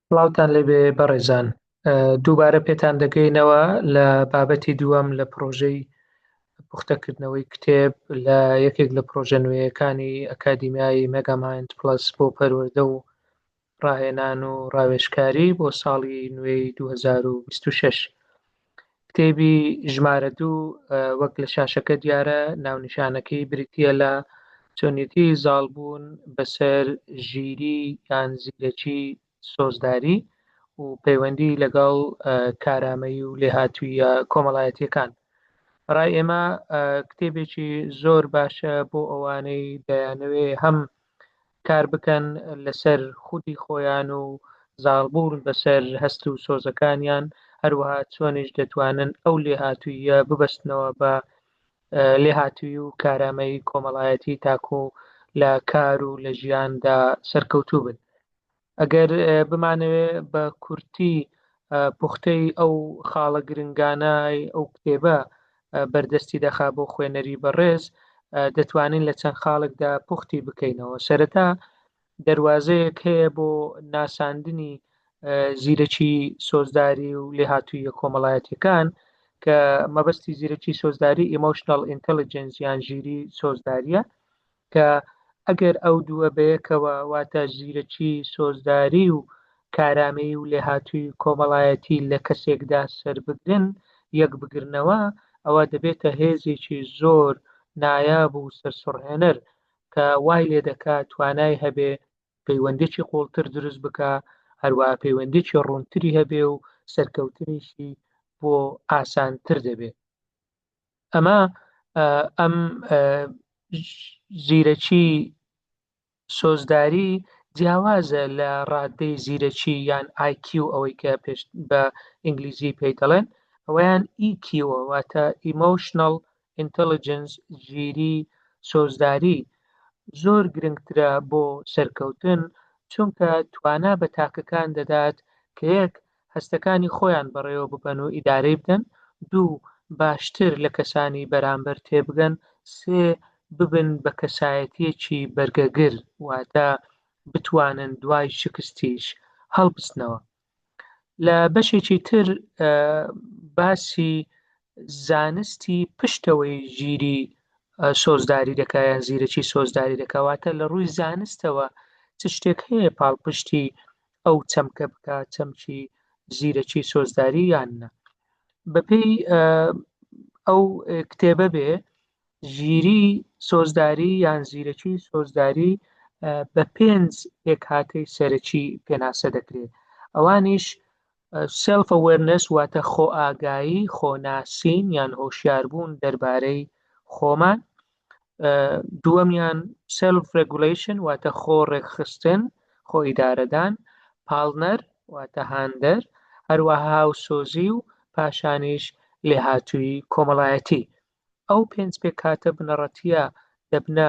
سڵاوتان لێبێ بەڕێزان دووبارە پێتان دەگەینەوە لە بابەتی دووەم لە پرۆژەی پوختەکردنەوەی کتێب لە یەکێک لە پرۆژە نوێیەکانی ئەکادیمیایی مەگەمایند پلس بۆ پەروەردە و ڕاهێنان و ڕاوێشکاری بۆ ساڵی نوێی 2026 کتێبی ژمارە دوو وەک لە شاشەکە دیارە ناونیشانەکەی بریتە لە چۆنیەتی زاڵبوون بەسەر ژیری یان زیرەکی سۆزداری و پەیوەندی لەگەڵ کارامەیی و لێهاتوویە کۆمەڵایەتیەکان ڕای ئێمە کتێبێکی زۆر باشە بۆ ئەوانەی دەیانەوێ هەم کار بکەن لەسەر خودی خۆیان و زاڵبوون بەسەر هەست و سۆزەکانیان، هەروەها چۆنیش دەتوانن ئەو لێهاتووییە ببەستنەوە بە لێهاتووی و کارامەیی کۆمەڵایەتی تاکوو لە کار و لە ژیاندا سەرکەوتوو بن. ئەگەر بمانەوێ بە کورتی پوختەی ئەو خاڵە گرنگانای ئەو کتێبە بەردەستی دەخا بۆ خوێنەری بەڕێز دەتوانین لە چەند خاڵکدا پوختی بکەینەوە سەرەتا دەواازەیەک هەیە بۆ ناساندنی زیرەکی سۆزداری و لێهاتوویە کۆمەڵایەتەکان کە مەبەستی زیرەکی سۆزداری ئیمۆشنال ئینتەلیجنس یان ژیری سۆزداریە کە ئەگەر ئەو دووە بەیەکەوە واتە زیرەکی سۆزداری و کارامەیی و لێهاتووی کۆمەڵایەتی لە کەسێکدا سەربگرن، یەکبگرنەوە، ئەوە دەبێتە هێزێکی زۆر نایاب و سەرسوڕهێنەر کە وای لێدەکا توانای هەبێ پەیوەندێکی قووڵتر دروست بکا، هەروەها پەیوەندێکی ڕوونتری هەبێ و سەرکەوتنیشی بۆ ئاسانتر دەبێ. ئەمە ئەم زیرەکی سۆزداری جیاوازە لە ڕادەی زیرەکی یان IQ ئەوەی کە پێش بە ئینگلیزی پێی دەڵێن ئەویان EQ واتە Emotional Intelligence ژیری سۆزداری زۆر گرنگترە بۆ سەرکەوتن چونکە توانا بە تاکەکان دەدات کە یەک هەستەکانی خۆیان بەڕێوە ببەن و ئیدارەی بکەن، دوو باشتر لە کەسانی بەرامبەر تێبگەن، سێ ببن بە کەسایەتییەکی بەرگەگر، واتە بتوانن دوای شکستیش هەڵبستنەوە. لە بەشێکی تر باسی زانستی پشتەوەی ژیری سۆزداری دەکا یان زیرەکی سۆزداری دەکا، واتە لە ڕووی زانستەوە چ شتێک هەیە پاڵپشتی ئەو چەمکە بکە چەمکی زیرەکی سۆزداری یان نە بەپێی ئەو کتێبە بێ ژیری سۆزداری یان زیرەکی سۆزداری بە پێنج پێکهاتەی سەرەکی پێناسە دەکرێت ئەوانیش سلف ئەوەرنس واتە خۆ ئاگایی خۆناسین یان هۆشیاربوون دەربارەی خۆمان دووەمیان سلف ڕگولەیشن واتە خۆ ڕێکخستن خۆ ئیدارەدان پاڵنەر واتە هاندەر هەروەها و سۆزی و پاشانیش لێهاتووی کۆمەڵایەتی ئەو پێنج پێکاتە بنەڕەتیە دەبنە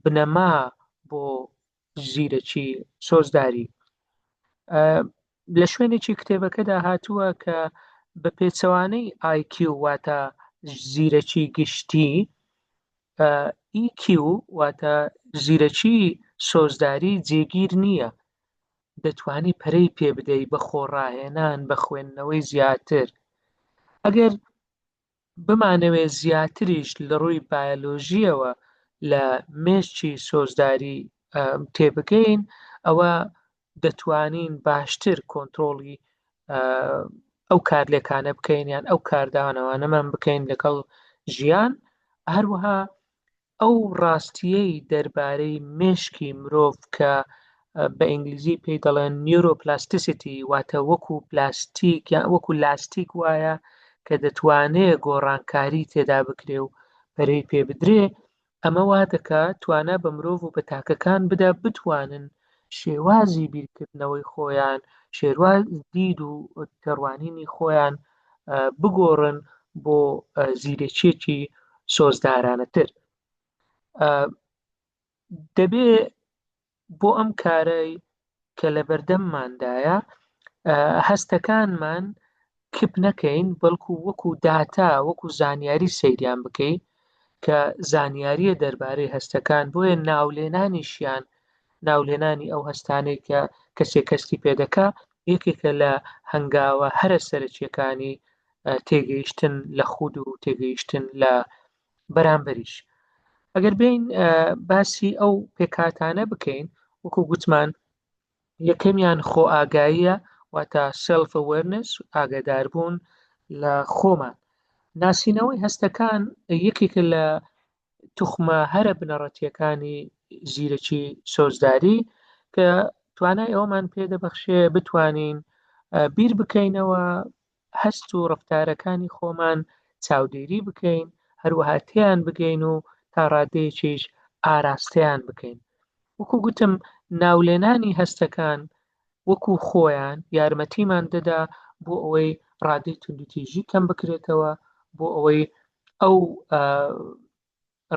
بنەما بۆ زیرەکی سۆزداری لە شوێنێکی کتێبەکەدا هاتووە کە بە پێچەوانەی IQ واتە زیرەکی گشتی EQ واتە زیرەکی سۆزداری جێگیر نییە دەتوانی پەرەی پێ بدەی بە خۆڕاهێنان بە خوێندنەوەی زیاتر ئەگەر بمانەوێ زیاتریش لە ڕووی بایەلۆژییەوە لە مێشکی سۆزداری تێبگەین ئەوە دەتوانین باشتر کۆنترۆڵی ئەو کارلێکانە بکەین یان ئەو کاردانەوانەمان بکەین لەگەڵ ژیان هەروەها ئەو ڕاستییەی دەربارەی مێشکی مرۆڤ کە بە ئینگلیزی پێی دەڵێن نیورۆپلاستیسیتی واتە وەکو پلاستیک یا وەکو لاستیک وایە کە دەتوانێ گۆڕانکاری تێدا بکرێ و پەرەی پێ بدرێ ئەمە وا دەکا توانا بە مرۆڤ و بە تاکەکان بدا بتوانن شێوازی بیرکردنەوەی خۆیان شێرواز دید و تێڕوانینی خۆیان بگۆڕن بۆ زیرەکیەکی سۆزدارانەتر دەبێ بۆ ئەم کارەی کە لە بەردەمماندایە هەستەکانمان کپ نەکەین بەڵکو وەکو داتا وەکو زانیاری سەیریان بکەی کە زانیاریە دەربارەی هەستەکان بۆیە ناولێنانیشیان ناولێنانی ئەو هەستانەی کە کەسێک کەستی پێدەکە یەکێکە لە هەنگاوە هەرە سەرەکییەکانی تێگەیشتن لە خود و تێگەیشتن لە بەرامبەریش ئەگەر بین باسی ئەو پێکاتانە بکەین وەکو گوتمان یەکەمیان خۆ ئاگاییە واتە سلف ئەوەرنس ئاگاداربوون لە خۆمان ناسینەوەی هەستەکان یەکێکە لە توخمە هەرە بنەڕەتیەکانی زیرەکی سۆزداری کە توانای ئەومان پێدەبەخشێ بتوانین بیر بکەینەوە هەست و ڕفتارەکانی خۆمان چاودێری بکەین هەروەها تیان بگەین و تا ڕادەیەکیش ئاراستەیان بکەین وەکو گوتم ناولێنانی هەستەکان وەکو خۆیان یارمەتیمان دەدا بۆ ئەوەی ڕادەی توندوتیژی کەم بکرێتەوە بۆ ئەوەی ئەو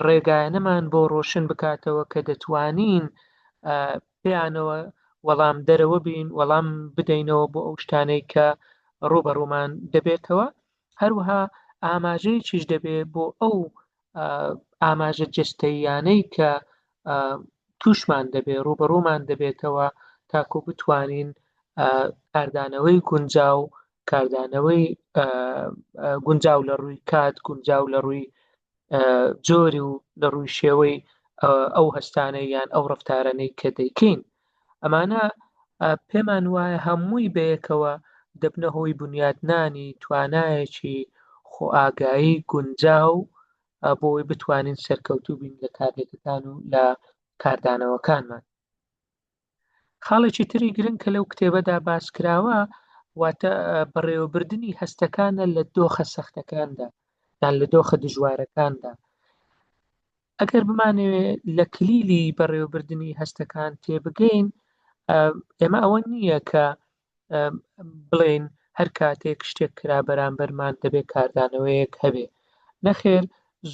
ڕێگایەنەمان بۆ ڕۆشن بکاتەوە کە دەتوانین پێیانەوە وەڵام دەرەوە بین وەڵام بدەینەوە بۆ ئەو شتانەی کە ڕوبەڕوومان دەبێتەوە هەروها ئاماژەیەکیش دەبێ بۆ ئەو ئاماژە جستەییانەی کە توشمان دەبێت ڕوبەڕوومان دەبێتەوە تاکو بتوانین کاردانەوەی گونجاو کاردانەوەی گونجاو لە ڕووی کات گونجاو لە ڕووی جۆری و لە ڕووی شێوەی ئەو هەستانە یان ئەو ڕفتارانەی کە دەیکەین ئەمانە پێمان وایە هەمووی بەیەکەوە دەبنە هۆی بنیاتنانی توانایەکی خۆئاگایی گونجاو بۆی بتوانین سەرکەوتوو بین لە کارلێکەکان و لە کاردانەوەکانمان خاڵێکی تری گرنگ کە لەو کتێبەدا باس کراوە واتە بەڕێوەبردننی هەستەکانە لە دۆخە سەختەکاندا یان لە دۆخە دژوارەکاندا ئەگەر بمانەوێ لە کلیلی بەڕێوەبردنی هەستەکان تێبگەین ئێمە ئەوە نییە کە بڵێن هەر کاتێک شتێک کرا بەرامبەرمان دەبێت کاردانەوەیەک هەبێ نەخێر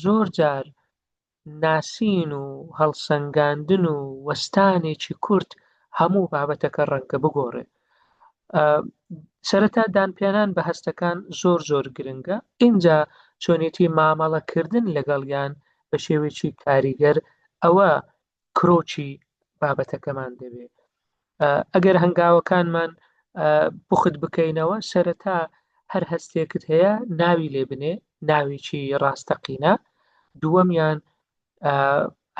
زۆر جار ناسین و هەڵسەنگاندن و وەستانێکی کورت هەموو بابەتەکە ڕەنگە بگۆڕێ سەرەتا دانپیانان بە هەستەکان زۆر زۆر گرنگە ئینجا چۆنێتی مامەڵەکردن لەگەڵیان بە شێوێکی کاریگەر ئەوە کرۆچی بابەتەکەمان دەبێت ئەگەر هەنگاوەکانمان بخت بکەینەوە سەرەتا هەر هەستێکت هەیە ناوی لێ بنێ ناویی ڕاستەقینە دووەمیان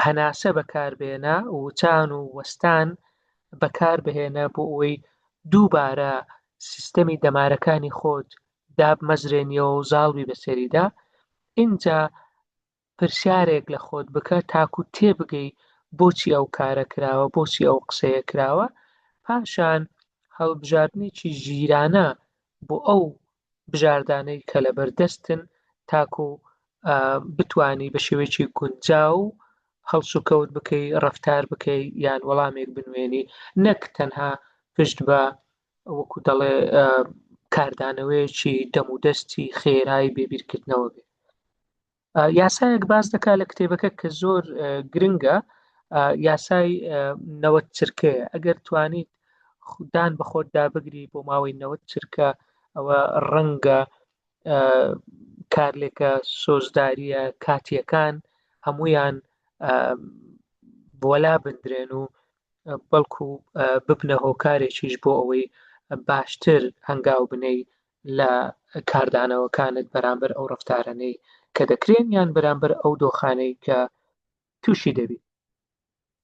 هەناسە بەکاربێنە وچان و وەستان بەکاربهێنە بۆ ئەوەی دووبارە سیستەمی دەمارەکانی خۆت دابمەزرێنیەوە و زاڵبی بەسەریدا اینجا پرسیارێک لە خۆت بکە تاکو تێبگەی بۆچی ئەو کارە کراوە بۆچی ئەو قسەیە کراوە پاشان هەڵبژاردنێکی ژیرانە بۆ ئەو بژاردانەی کە لەبەر دەستن تاکو بتانی بە شێوەیەکی گونجا و هەڵسوکەوت بکەی ڕفتار بکەی یان وەڵامێک بنوێنی نەک تەنها پشت بە وەکو دەڵێ کاردانەوەیەکی دەمودەستی خێرای بێبیرکردنەوە بێت یاسایەک باس دەکات لە کتێبەکە کە زۆر گرنگە یاسای نەوە چرکەیە ئەگەر توانیت خوددان بە خۆت دابگری بۆ ماوەی نەوە چرکە ئەوە ڕەنگە کارلێکە سۆزداریە کاتیەکان هەمویان بۆلا بدرێن و بەڵکو ببنە هۆکارێکیش بۆ ئەوەی باشتر هەنگاو بنەی لە کاردانەوەکانت بەرامبەر ئەو ڕفتارانەی کە دەکرێن یان بەرامبەر ئەو دۆخانەی کە تووشی دەبی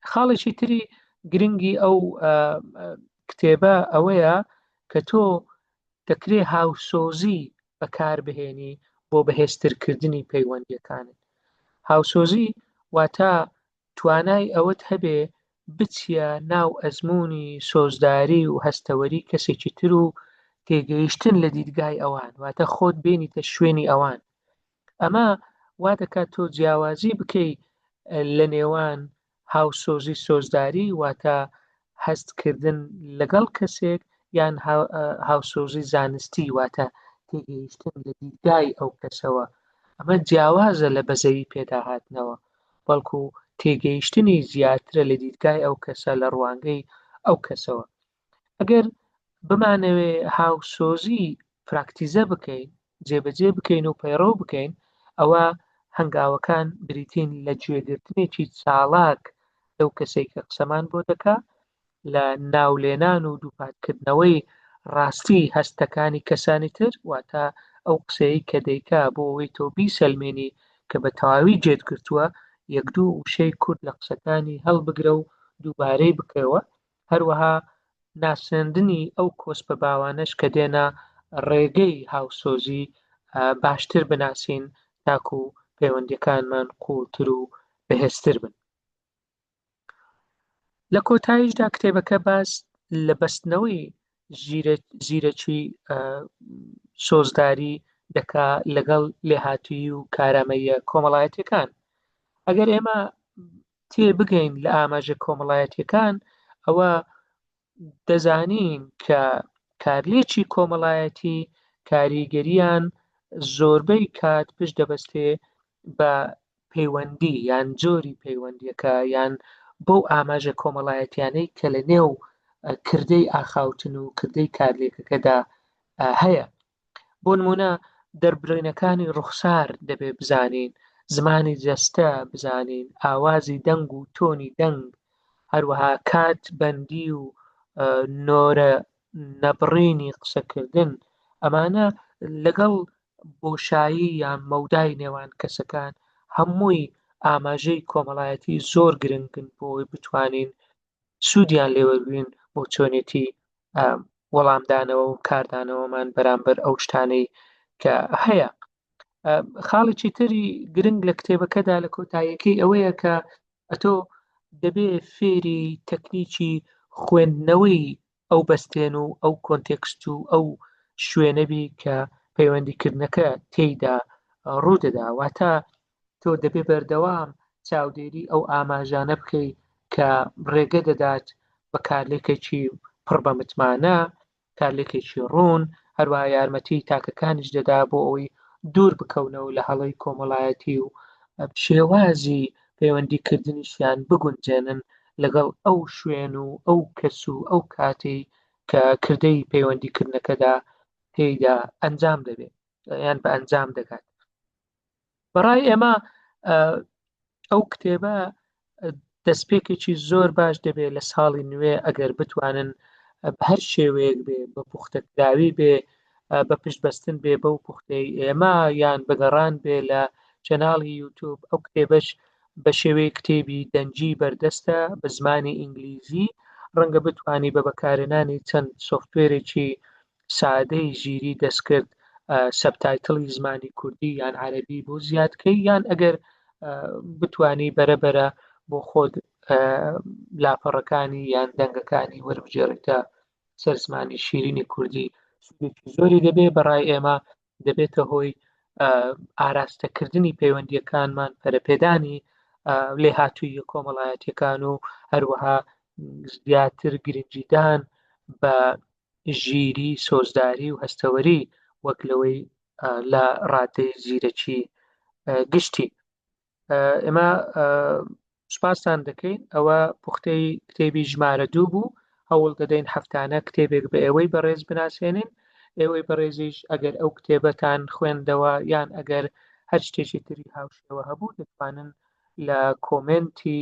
خاڵێکی تری گرنگی ئەو کتێبە ئەوەیە کە تۆ دەکرێ هاوسۆزی بەکاربهێنی بۆ بەهێزترکردنی پەیوەندیەکانت هاوسۆزی واتە توانای ئەوەت هەبێ بچیە ناو ئەزمونی سۆزداری و هەستەوەری کەسێکی تر و تێگەیشتن لە دیدگای ئەوان واتە خۆت بێنیتە شوێنی ئەوان ئەمە وا دەکات تۆ جیاوازی بکەی لە نێوان هاوسۆزی سۆزداری واتە هەستکردن لەگەڵ کەسێک یان هاوسۆزی زانستی واتە تێگەیشتن لە دیدگای ئەو کەسەوە ئەمە جیاوازە لە بەزەوی پێداهاتنەوە بەڵکو تێگەیشتنی زیاترە لە دیدگای ئەو کەسە لە ڕوانگەی ئەو کەسەوە ئەگەر بمانەوێ هاوسۆزی پراکتیزە بکەین جێبەجێ بکەین و پەیڕەو بکەین ئەوە هەنگاوەکان بریتین لە گوێگرتنێکی چاڵاک لەو کەسێک کە قسەمان بۆ دەکا لە ناولێنان و دووپاتکردنەوەی ڕاستی هەستەکانی کەسانی تر واتە ئەو قسەیە کە دەیکا بۆ ئەوەی تۆ بیسەلمێنی کە بە تەواوی جێت گرتووە یەک دوو وشەی کورد لە قسەکانی هەڵبگرە و دووبارەی بکەوە هەروەها ناسێندنی ئەو کۆسپە باوانەش کە دێنە ڕێگەی هاوسۆزی باشتر بناسین تاکو پەیوەندیەکانمان قوڵتر و بەهێزتر بن. لە کۆتاییشدا کتێبەکە باس لە بەستنەوەی زیرەکی سۆزداری دەکا لەگەڵ لێهاتووی و کارامەیە کۆمەڵایەتەکان ئەگەر ئێمە تێ بگەین لە ئاماژە کۆمەڵایەتیەکان ئەوە دەزانین کە کارلێکی کۆمەڵایەتی کاریگەریان زۆربەی کات پشت دەبەستێ بە پەیوەندی یان جۆری پەیوەندیەکە یان بەو ئاماژە کۆمەڵایەتیانەی کە لە نێو کردەی ئاخاوتن و کردەی کارلێکەکەدا هەیە بۆ نمونە دەربڕینەکانی ڕوخسار دەبێ بزانین زمانی جەستە بزانین ئاوازی دەنگ و تۆنی دەنگ هەروەها کات بەندی و نۆرە نەبڕینی قسەکردن ئەمانە لەگەڵ بۆشایی یان مەودای نێوان کەسەکان هەمووی ئاماژەی کۆمەڵایەتی زۆر گرنگن بۆی بتوانین سوودیان لێوەبوین بۆ چۆنێتی وەڵامدانەوە و کاردانەوەمان بەرامبەر ئەو شتانەی کە هەیە خاڵێکی تری گرنگ لە کتێبەکەدا لە کۆتاییەکەی ئەوەیە کە ئەتۆ دەبێ فێری تەکنیکی خوێندنەوەی ئەو بەستێن و ئەو کۆنتێکست و ئەو شوێنەبی کە پەیوەندیکردنەکە تێیدا ڕوودەدا واتە تۆ دەبێ بەردەوام چاودێری ئەو ئاماژانە بکەیت کە ڕێگە دەدات بە کارلێکێکی پڕ بە متمانە کارلێکێکی ڕوون هەروە یارمەتی تاکەکانیش دەدا بۆ ئەوی دوور بکەونەوە لە هەڵی کۆمەڵایەتی و شێوازی پەیوەندیکردنیشیان بگونجێنن لەگەڵ ئەو شوێن و ئەو کەس و ئەو کاتی کە کردەی پەیوەندیکردنەکەدا تێیدا ئەنجام دەبێت یان بە ئەنجام دەگات بەڕای ئێمە ئەو کتێبە دەستپێکێکی زۆر باش دەبێت لە ساڵی نوێ ئەگەر بتوانن بە هەر شێوەیەک بێ بە پوختەکراوی بێ بە پشتبەستن بێ بەو پوختەی ئێمە یان بەگەڕان بێ لە چەناڵی یوتوب ئەو کتێبش بە شێوەی کتێبی دەنجی بەردەستە بە زمانی ئینگلیزی ڕەنگە بتانی بە بەکارێنانی چەند سوفتێرێکی سادەی ژیری دەستکرد سەبتایتڵی زمانی کوردی یان عەربی بۆ زیادکەی یان ئەگەر بتانی بەرەبەرە بۆ خۆت لاپەڕەکانی یان دەنگەکانی وەربگێڕیتە سەر زمانی شیرینی کوردی زۆری دەبێ بەڕای ئێمە دەبێتە هۆی ئاراستەکردنی پەیوەندیەکانمان پەرەپێدانی لێ هاتووی کۆمەڵایەتەکان و هەروەها زیاتر گرنگیدان بە ژیری سۆزداری و هەستەوەری وەک لەوەی لە ڕادەی زیرەکی گشتی ئێمە سوپاسان دەکەین ئەوە پوختەی کتێبی ژمارە دوو بوو هەوڵ دەدەین هەفتانە کتێبێک بە ئێوەی بەڕێز بناسێنین ئێوەی بەڕێزیش ئەگەر ئەو کتێبەتان خوێندەوە یان ئەگەر هەر شتێکی تری هاوشێوە هەبوو دەتوانن لە کۆمنتی